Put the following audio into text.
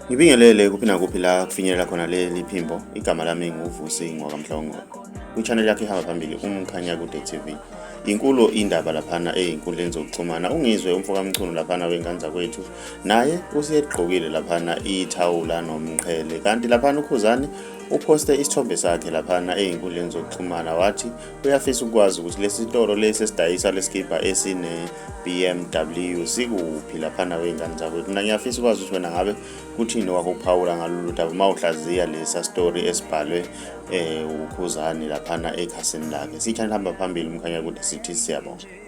Ngibingelele kuphi nakuphi la kufinyelela khona leli phimbo. Igama lami nguVusi Ngwakamhlongo. Kwi-channel yakhe ihamba phambili uMkhanya Kude TV. Inkulu indaba laphana eyinkundleni zokuxhumana. Ungizwe umfokamchunu laphana wengane zakwethu. Naye useyegqokile laphana ithawula nomqhele. Kanti laphana uKhuzani uphoste isithombe sakhe laphana eyinkundleni zokuxhumana wathi Uyafisa ukwazi ukuthi lesitolo lesi esidayisa lesikibha esine BMW sikuphi lapha nawe ingane zakho mina ngiyafisa ukwazi ukuthi wena ngabe kuthini wakuphawula ngalolu daba uma uhlaziya lesa story esibhalwe eh ukhuzani lapha na ekhasini lakhe sithanda hamba phambili umkhanya kude sithi siyabonga